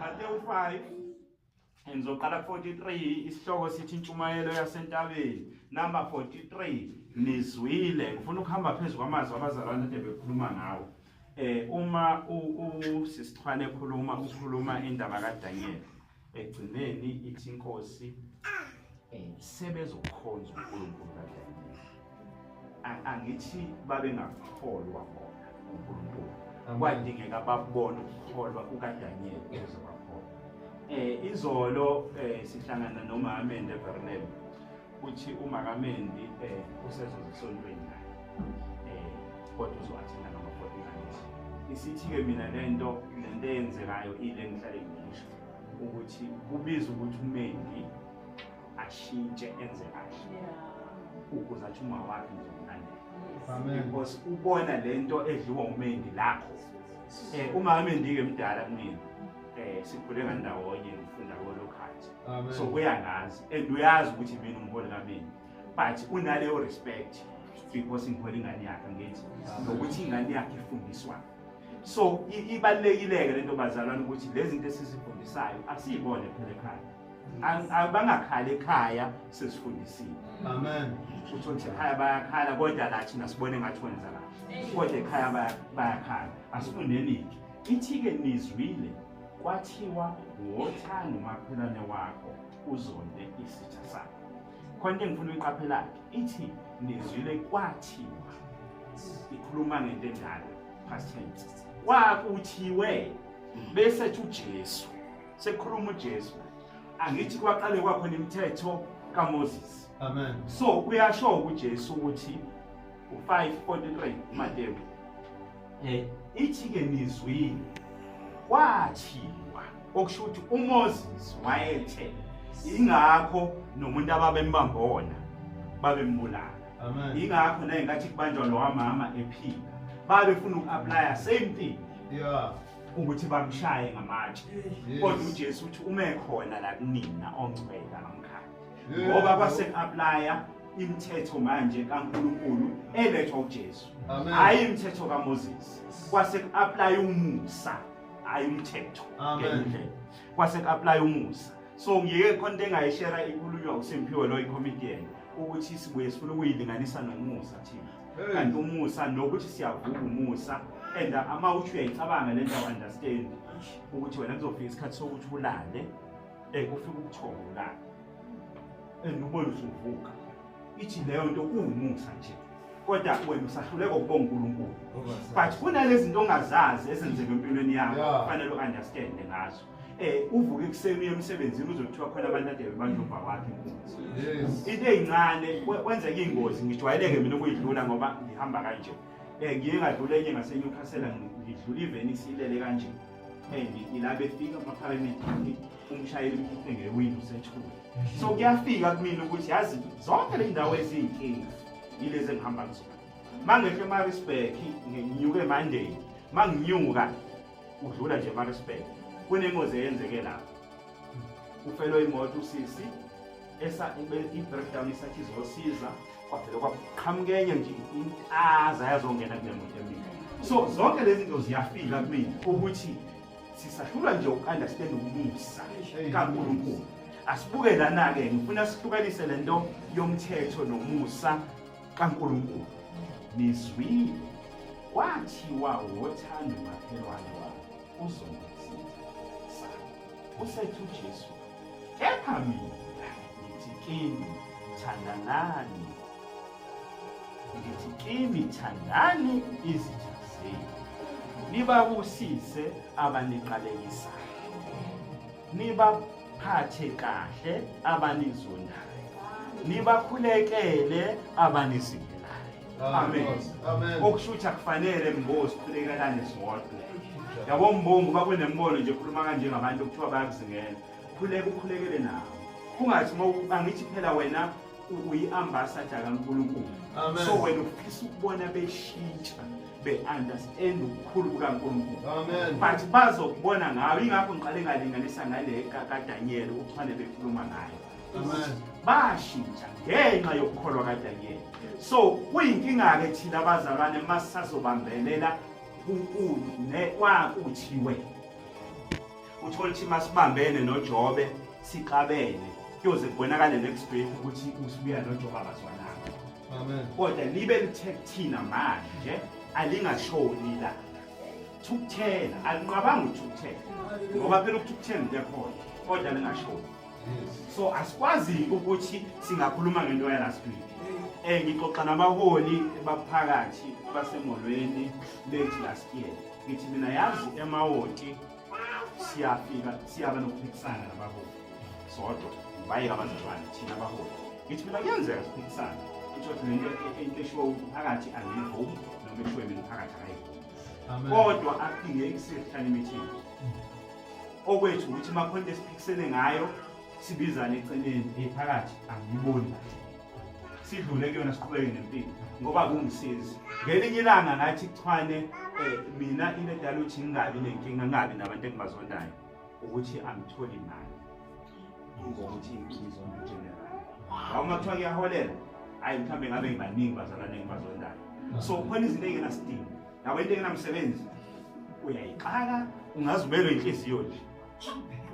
Matewu 5 Ngizoqala ku-43 isihloko sithi intshumayelo yasentabeni number 43 nizwile ngifuna ukuhamba phezu kwamazwi abazalwane ade bekhuluma ngawo eh uma usisichwane ekhuluma ukhuluma indaba kaDaniel ekugcineni ithi inkosi um sebezokhonza unkulunkulu kadlamini angithi babengakholwa bona unkulunkulu kwadingeka babone ukukholwa kukadanyeli ukuze bakholwa um eh, izolo um sihlangana nomamende evernel uthi umakamendi um eh, usezozisontweni naye um kodwa uzowathenda ngama-fortynight isithi-ke mina le nto le nto eyenzekayo ile ngihlale ngisho ukuthi kubiza ukuthi umendi ashintshe enze kahle ukuze athi uma wakhe ngizomlandela because ubona le nto edliwa umendi lakho um uma amendi-ke mdala kumina um sikhule ngandawonye ngifunda kolokhathi so kuyangazi and uyazi ukuthi mina umholi kamendi but unaleyo respect because ngihole ingane yakhe ngithi nokuthi ingane yakhe ifundiswa so ibalulekile-ke le nto bazalwane ukuthi le zinto esizifundisayo asiyibone phela ekhaya abangakhali ekhaya sesifundisile amen uthi ukuthi ekhaya bayakhala kodwa la thina sibone ngathi wenza la kodwa ekhaya bayakhala asifundenike ithi-ke nizwile kwathiwa wothanda umakhelwane wakho uzonde isitha sakho khona into engifuna uyiqaphelake ithi nizwile kwathiwa ikhuluma ngento endala past tense kwakuthiwe bese thi ujesu sekhuluma uJesu angithi kwaqale kwakhona imithetho kaMoses amen so uyasho uJesu ukuthi u543 Matewu eh ithi ke nizwini kwathiwa okusho ukuthi uMoses wayethe ingakho nomuntu ababembamba wona babembulala amen ingakho naye ngathi kubanjwa lo wamama ephila babefuna uku-aplya same thing yeah ukuthi bamshaye ngamatshe kodwa uJesu uthi uma ekhona la kunina ongcwele amkhaya ngoba base applya imithetho manje kaNkuluNkulu elethwa uJesu hayi imithetho kaMoses kwase applya umusa hayi umthetho ngendlela kwase applya umusa so ngiyeke khona engayishera inkulunywa uSimphiwe lo icomedian ukuthi sibuye sifuna ukuyilinganisa nomusa thina and umusa nokuthi siyavuka umusa and ama uthi uyayicabanga le ndawo understand ukuthi wena kuzofika isikhathi sokuthi ulale um kufika ubuthongo ulale and ubona ukuthi uvuka ithi leyo nto kuwumusa nje kodwa wena usahluleka ukubonga unkulunkulu but kunalezinto ongazazi ezenzeka empilweni yakho kufanele u-understande ngazo eh uvuke ekuseni uye emsebenzini uzothiwa khona abantu ade bebanjomba wakhe ingozi into eyincane kwenzeka ingozi ngijwayeleke mina ukuyidlula ngoba ngihamba kanje eh ngiye ngadlula enye ngaseNewcastle ngidlula iveni silele kanje eh ngila befika amapharamethi umshayeli mkhiphe ngewindow sethule so kuyafika kumina ukuthi yazi zonke le ndawo ezinkinga yilezi engihamba kuzona mangehle emarisburg nginyuke emandeni manginyuka udlula nje eMaritzburg kunengozi eyenzeke lapho kufelwe imoto usisi i-breakdown isathi izosiza kwavele kwaqhamuka enye nje intaza yazongena kule moto emile so zonke lezi zinto ziyafika kumina ukuthi sisahlulwa nje uku-understand ukumusa kankulunkulu asibuke lana-ke ngifuna sihlukanise le nto yomthetho nomusa kaNkulunkulu nizwile kwathiwa wothanda umakhelwane wakho uzongisiza sami usethu Jesu kepha mina ngithi kini thandanani ngithi kini thandani izitha zenu nibabusise abaniqalekisayo nibaphathe kahle abanizondayo nibakhulekele abanizingelayo amen okusho ukuthi akufanele mbozi khulekekane zodwa yabo mbongo bakunembono nje khuluma kanje ngabantu okuthiwa bayakuzingela khuleka ukhulekele nabo kungathi angithi phela wena uyi-ambasada kankulunkulu so wena ufisa ukubona beshintsha be-understand ubukhulu bukankulunkulu but bazokubona ngayo ingakho ngiqale ngalinganisa ngale kadanyeli ukuthi fane bekhuluma ngayo bashintsha ngenxa yokukholwa kadanyeli so kuyinkinga-ke thina abazalwane masisazobambelela kwakuthiwe uthole ukuthi masibambene nojobe sixabene kuyoze kubonakale next week ukuthi usibuya nojobe abazwana Amen. Kodwa nibe lithe kuthina manje alingashoni la. Thukuthela, alinqabanga ukuthukuthela. Ngoba phela ukuthukuthela into ekhona, kodwa lingashoni. So asikwazi ukuthi singakhuluma ngento ya last week. Eh ngixoxa nabaholi baphakathi basemolweni late last year. Ngithi mina yazi emawoti siyafika siyaba nokuphikisana nabaholi sodwa bayeka abazalwane thina abaholi ngithi mina kuyenzeka siphikisane kuthiwa lento into eshiwo umphakathi angiyivumi noma eshiwo mina umphakathi akayivumi kodwa akudingeki sihlale imithini okwethu ukuthi makhonto esiphikisene ngayo sibizane eceleni ephakathi angiyiboni kahle sidlule kuyona siqhubeke nempilo ngoba kungisizi ngelinye ilanga ngathi chwane um mina into edala ukuthi ngingabi nenkinga ngingabi nabantu engibazondayo ukuthi angitholi imali ngokuthi ngizona general ngaba uma kuthiwa kuyaholela hhayi mhlawumbe ngabe ngibaningi bazalwane engibazondayo so khona izinto eyingenasidingo yabo into engenamsebenzi uyayixaka ungaze ubelwe inhliziyo nje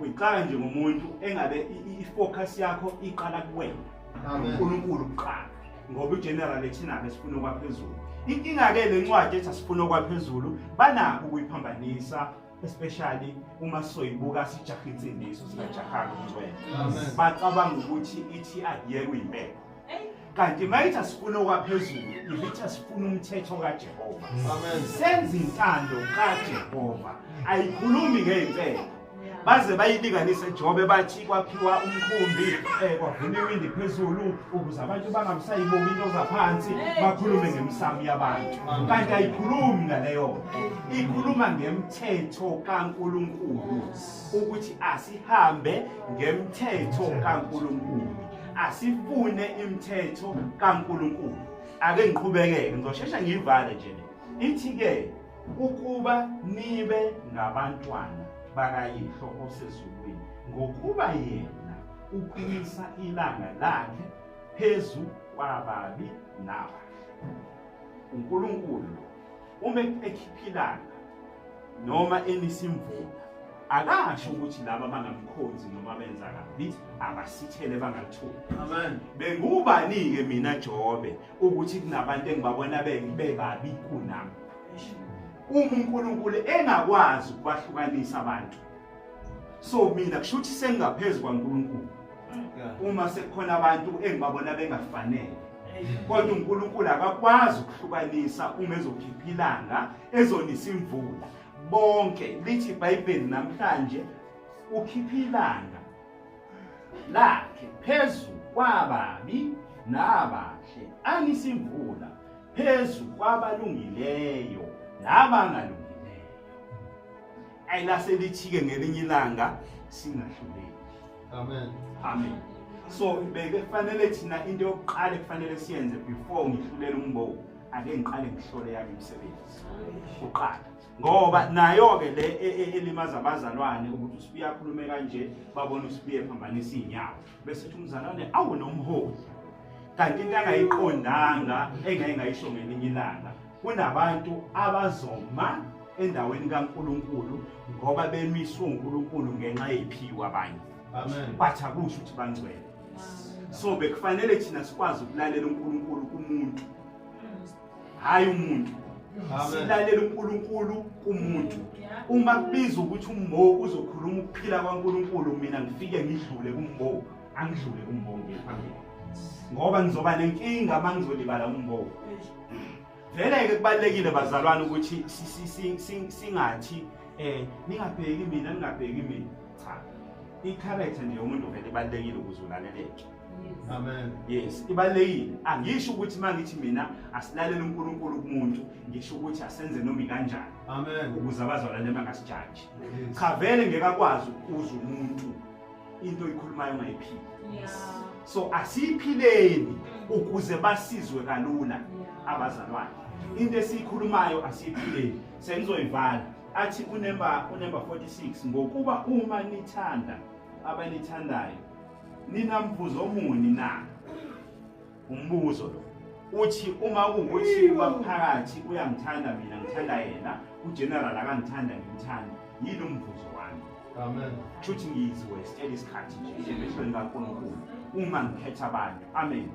uyixaka nje ngomuntu engabe i-focus yakho iqala kuwena unkulunkulu kuqala ngoba igeneral ethinabe sifuna okwaphezulu inkinga-ke le ncwadi ethi asifuna okwaphezulu banakho ukuyiphambanisa especially uma soyibuka sijaha insindiso singajahanga umncwele bacabanga ukuthi ithi akuyeke uyimpepho kanti mayithi sifuna okwaphezulu ivithi sifuna umthetho kajehova mm. senza intando kajehova ayikhulumi ngey'mpela baze bayilinganise ejobe bathi kwakhiwa umkhumbi um kwavuma iwindi phezulu ukuze abantu bangamsayiboni into zaphansi bakhulume ngemisamu yabantu kanti ayikhulumi ngaleyo ikhuluma ngemthetho kankulunkulu ukuthi asihambe ngemthetho kankulunkulu asifune imithetho kaNkuluNkulu ake ngiqhubekeke ngizoshesha ngiyivale nje le ithi ke ukuba nibe ngabantwana bakayihlo osezulwini ngokuba yena uphumisa ilanga lakhe phezu kwababi nabahle uNkulunkulu uma ekhiphilana noma enisimvula akasho ukuthi laba bangamkhonzi noma benza kabi abasithele bangathuli amen bengubani ke mina Jobe ukuthi kunabantu engibabona bebabi kunami uma uNkulunkulu engakwazi ukubahlukanisa abantu so mina kusho ukuthi sengaphezulu kwaNkulunkulu uma sekukhona abantu engibabona bengafanele kodwa uNkulunkulu akakwazi ukuhlukanisa uma ezokhipha ilanga ezonisa imvula bonke lithi iBhayibheli namhlanje ukhipha ilanga lakhe phezu kwababi nabahle anisimvula phezu kwabalungileyo nabangalungileyo ayilase lithike ngelinye ilanga singahluleki amen amen so bekufanele thina into yokuqala ekufanele siyenze before ngihlulela umbowu ake ngiqale ngihlole yami imisebenzi kuqala ngoba nayo-ke le e, e, elimaza abazalwane ukuthi usibuye akhulume kanje babone usibuye ephambanisa iy'nyawo bese thi umzalwane awu nomholi kanti into angayiqondanga engeke ngayisho ngelinye ilanga kunabantu abazoma endaweni kaNkuluNkulu ngoba bemiswe uNkuluNkulu ngenxa yephiwa abanye amen but akusho ukuthi bangcwele so bekufanele thina sikwazi ukulalela uNkuluNkulu kumuntu hayi umuntu silalela uNkulunkulu kumuntu uma kubiza ukuthi umbo uzokhuluma ukuphila kwaNkulunkulu mina ngifike ngidlule kumbo angidlule kumbo ngiphambili ngoba ngizoba nenkinga mangizolibala umbo vele-ke kubalulekile bazalwane ukuthi singathi um ningabheki mina ningabheki mina cha i-character nje yomuntu vele ibalulekile ukuze ulaleleke amen yes ibalulekile angisho ukuthi uma ngithi mina asilalele unkulunkulu kumuntu ngisho ukuthi asenze nomi kanjani amen ukuze abazalwane bangasijaji cha vele ngeke akwazi ukuza umuntu into oyikhulumayo ungayiphili so asiyiphileni ukuze basizwe kalula abazalwane into esiyikhulumayo asiyiphileni sengizoyivala athi unemba unemba 46 ngokuba uma nithanda abanithandayo ninamvuzo omuni na Umbuzo lo uthi uma kuwukuthi ubamphakathi uyangithanda mina ngithanda yena ugeneral akangithanda ngimthanda yini umvuzo wami amen shuthi ngizwe sitshela isikhathi nje njengehlweni kaNkulunkulu uma ngikhetha abantu amen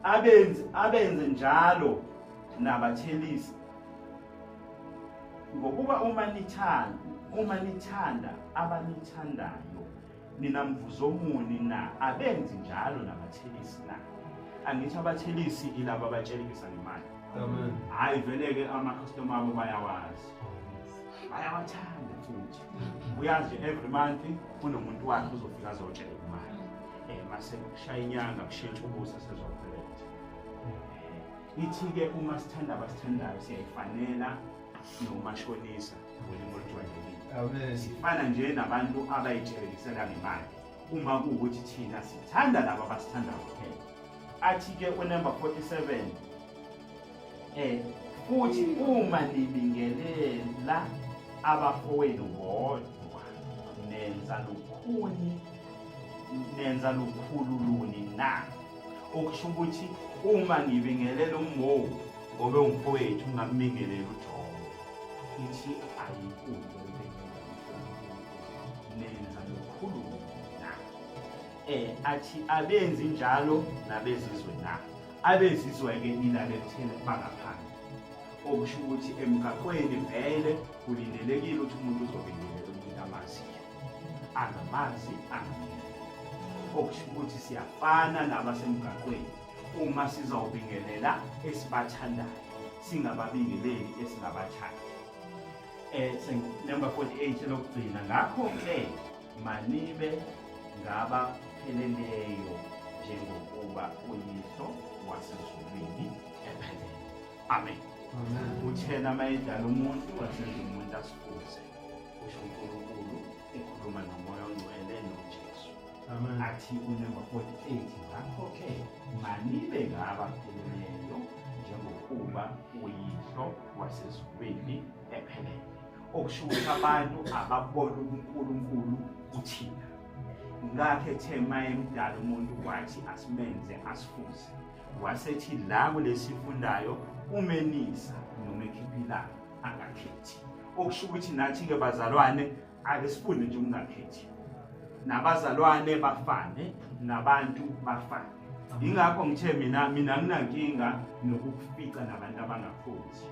abenze abenze njalo nabathelisi ngokuba uma nithanda uma nithanda abanithandayo Nina mvuzomuni na abenzi njalo nabathelisi na angithi abathelisi ilaba abatshelekisa ngemali amen hayi vele ke ama customer abo bayawazi bayawathanda futhi uyazi every month kunomuntu wakhe uzofika azotshela imali eh mase kushaya inyanga kushintsha ubusa sezophelele eh, ithi ke uma sithanda abasithandayo siyayifanela nomashonisa sifana nje nabantu abayithelekisela ngemali uma kuwukuthi thina sithanda laba abasithanda kuphela athi-ke unumber 47 eh futhi uma nibingelela abafowenu bodwa nenza lukhuni nenza lukhulu luni na okusho ukuthi uma ngibingelela ummowu Ngobe umfowethu ungammingelela uJobe. Ithi ayikude nenza lokhulumo na. Eh athi abenzi njalo nabezizwe na. Abezizwe ke ilale kuthena bangaphandle. Okusho ukuthi emgaqweni vele kulindelekile ukuthi umuntu uzobingelela umuntu amaziyo. Angamazi angamile. Okusho ukuthi siyafana nabasemgaqweni. uma sizawubingelela esibathandayo singababingeleli esingabathandi eh number 48 lokugcina ngakho ke manibe ngaba pheleleyo njengokuba uyiso wasezulwini ephelele amen uthena mayedala umuntu wasezulwini umuntu asifuze usho uNkulunkulu ekhuluma nomoya ongcwele nojesu athi unumber 48 ngakho-ke manibe ngaba pheleneyo njengokuba uyihlo wasezulwini ephelele okusho ukuthi abantu ababona ubunkulunkulu kuthina ngakhe ethe mayemdala umuntu wathi asimenze asifuze wasethi la kulesifundayo umenisa noma ekhiphilayo angakhethi okusho ukuthi nathi-ke bazalwane ake sifunde nje ukungakhethi nabazalwane bafane nabantu bafane yingakho ngithe mina mina nginankinga nokukufica nabantu abangakhonzi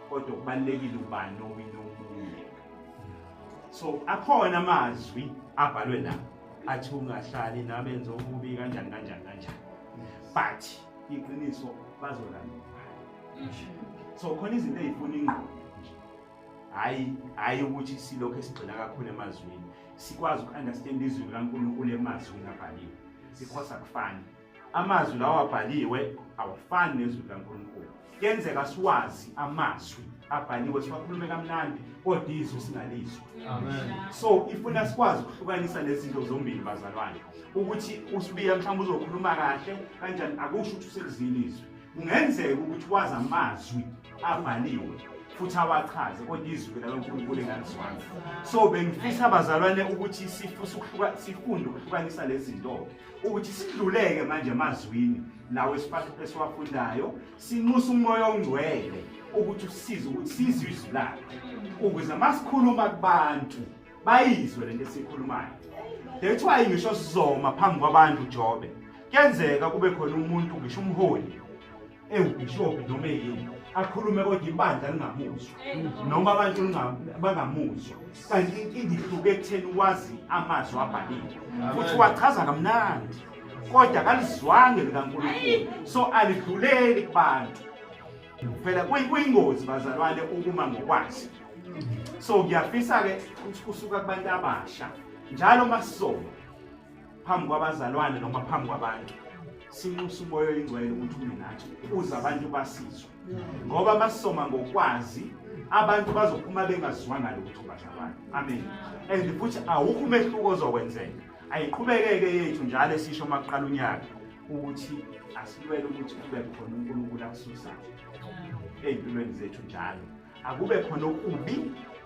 kodwa kubalulekile ubani owina omunye so akhona amazwi abhalwe la athi ungahlali nabenza okubi kanjani kanjani kanjani but iqiniso bazolandela so khona izinto ezifuna ingqondo nje hayi hayi ukuthi silokho esigxila kakhulu emazwini sikwazi uku-understand izwi likankulunkulu emazwini abhaliwe because akufani amazwi lawo abhaliwe awafani nezwi likankulunkulu kuyenzeka siwazi amazwi abhaliwe siwakhulume kamnandi kodwa izwi singalizwa so ifuna sikwazi ukuhlukanisa lezi zinto zombili bazalwane ukuthi usibiya mhlawumbe uzokhuluma kahle kanjani akusho ukuthi uselizile izwi kungenzeka ukuthi wazi amazwi abhaliwe futhi awachaze kodwa izwi lalonkulunkulu engalizwanga so bengifisa abazalwane ukuthi sifunde ukuhlukanisa lezi zinto ukuthi sidluleke manje emazwini lawo esiwafundayo sinxusa umoya ongcwele ukuthi usize ukuthi sizwe izwi lakhe ukuze uma sikhuluma kubantu bayizwe le nto esiyikhulumayo that's why ngisho sizoma phambi kwabantu jobe kuyenzeka kube khona umuntu ngisho umholi ewubhishobhi noma eyini akhulume kodwa ibandla lingamuzwa noma abantu bangamuzwa kanti inkinga ihluke ekutheni wazi amazwi abhaliwe futhi wachaza kamnandi kodwa kalizwange likankulunkulu so alidluleli kubantu phela kuyingozi bazalwane ukuma ngokwazi so ngiyafisa-ke ukuthi kusuka kubantu abasha njalo uma sisoma phambi kwabazalwane noma phambi kwabantu sinxusa umoya oyingcwele ukuthi ume nathi uze abantu basizwe ngoba masisoma ngokwazi abantu bazophuma bengaziwanga lutho bazalwane amen and futhi awukho umehluko ozokwenzeka ayiqhubekeke yethu njalo esisho uma kuqala unyaka ukuthi asilwele ukuthi kube khona unkulunkulu akususayo ey'mpilweni zethu njalo akube khona okubi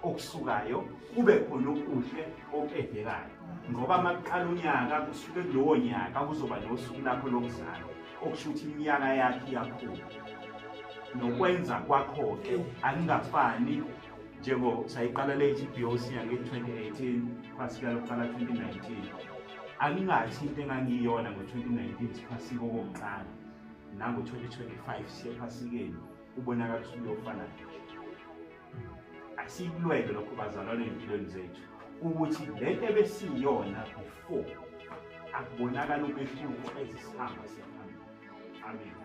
okusukayo kube khona okuhle okudekayo ngoba uma kuqala unyaka kusuke kulowo nyaka kuzoba nosuku lakho lokuzalwa okusho ukuthi iminyaka yakhe iyakhula nokwenza kwakho-ke akungafani njengo sayiqala lethi i-boc yange-2018 phasika lokuqala 2019 angingathi into engangiyona ngo-2019 siphasike okokuqala nango-2025 siyephasikeni ubonakala usubuye ofanayo asikulwele lokho bazalwane empilweni zethu ukuthi le nto ebesiyona before akubonakala umehluko ezisihamba siyaphambili amen